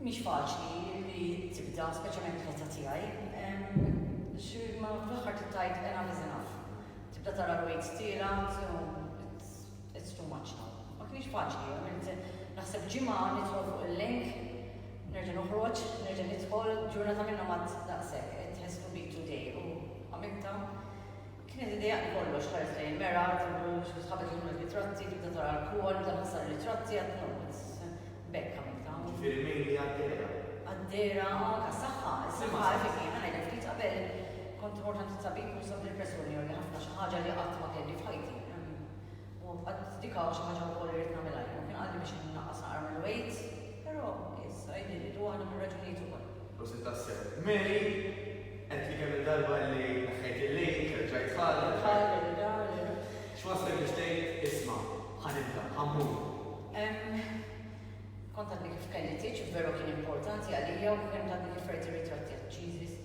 Mhix faċli li tibda, speċjalment fl-età tiegħi, għax imma fl-aħħar trid tgħid enough is enough. Tibda tara l-weights tielgħat u it's too much now. Ma kinitx faċli, għamilt naħseb ġimgħa nidħol fuq il-link, nerġa' noħroġ, nerġa' nidħol, ġurnata minnhom għadt daqshekk, it has to be today u għamiltha. Kienet idea li kollox tħares lejn il-mera, tibux, l-isħab qed jieħdu r-ritratti, tibda tara l-koa li daħħal sar-ritratti għad-notes. B'hekk għamilt hawn. Ġifieri mejli għad-dehra. Għad-dehra, anke għas-saħħa. Is-saħħa hekk kif hi. Ħa ngħidlek ftit, qabel kont immort għand it-tabib u sabli l-pressjoni għoli ħafna, xi ħaġa li qatt ma kelli f'ħajti. U qatt dik hawn xi ħaġa wkoll li ridt nagħmilha jien. U kien qalli biex innaqqas naqra mill-weight, però issa jidhirli waħda mir-raġunijiet ukoll. Prosit tassew. Mary, għedtli kemm-il darba li neħħejt il-lejk, rġajt tfal, rġajt. X'wasslek biex tgħid, isma', ħa nibda, ħa mmur? Kont għadni kif kelli tieġ u veru kien importanti għalija u kont għadni kif rajt ir-ritratti għaċ-cheeses.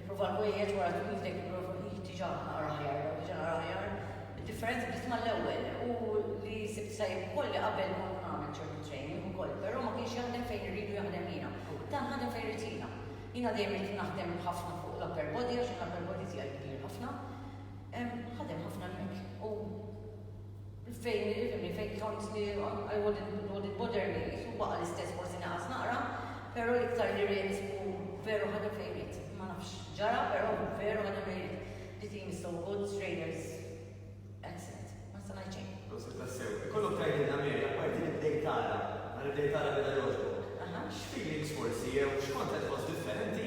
Ipprova l-ħwejjeġ wara twil f'idejk ipprova hi diġà nara aħjar jew diġà nara aħjar. Id-differenza bdiet mal-ewwel u li sibt tajjeb ukoll li qabel kont nagħmel ċertu training ukoll però ma kienx jaħdem fejn irridu jaħdem jiena. Dan ħadem fejn rrid jiena. Jiena dejjem rrid naħdem ħafna fuq l-upper body għax l-upper body tiegħi kbir ħafna. Ħadem ħafna hemmhekk u. Fejn ifhimni, fejn kont li I wouldn't, wouldn't bother li qisu baqa' l-istess forsi naqas naqra, però l-iktar li riehdet u veru ħadet il-fejriet. Ma nafx x'ġara però veru ħadet il-fejriet. Di tim is so good, Strainers excellent. Ma nista' ngħid xejn. Proset tassew. Ikollok tgħidilna Mary, apparti li bdejt tara, nhar li bdejt tara beda jogħġbok, x'feelings forsi jew x'kont qed tħoss differenti?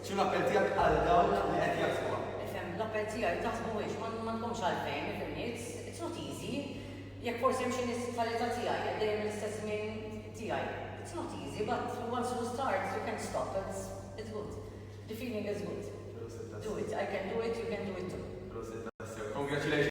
X'inhu l-appell tiegħek għal dawn li qed jaħsbuha? Ifhem, l-appell tiegħi, taħsbuhiex, m'għandkomx għalfejn, ifhem, it's it's not easy. Jekk forsi hemm xi nies bħal età tiegħi qed dejjem l-istess żmien tiegħi, it's not easy, but once you start, you can't stop, it's it's good. The feeling is good. Do it, I can do it, you can do it too. Prosit tassew. Congratulations.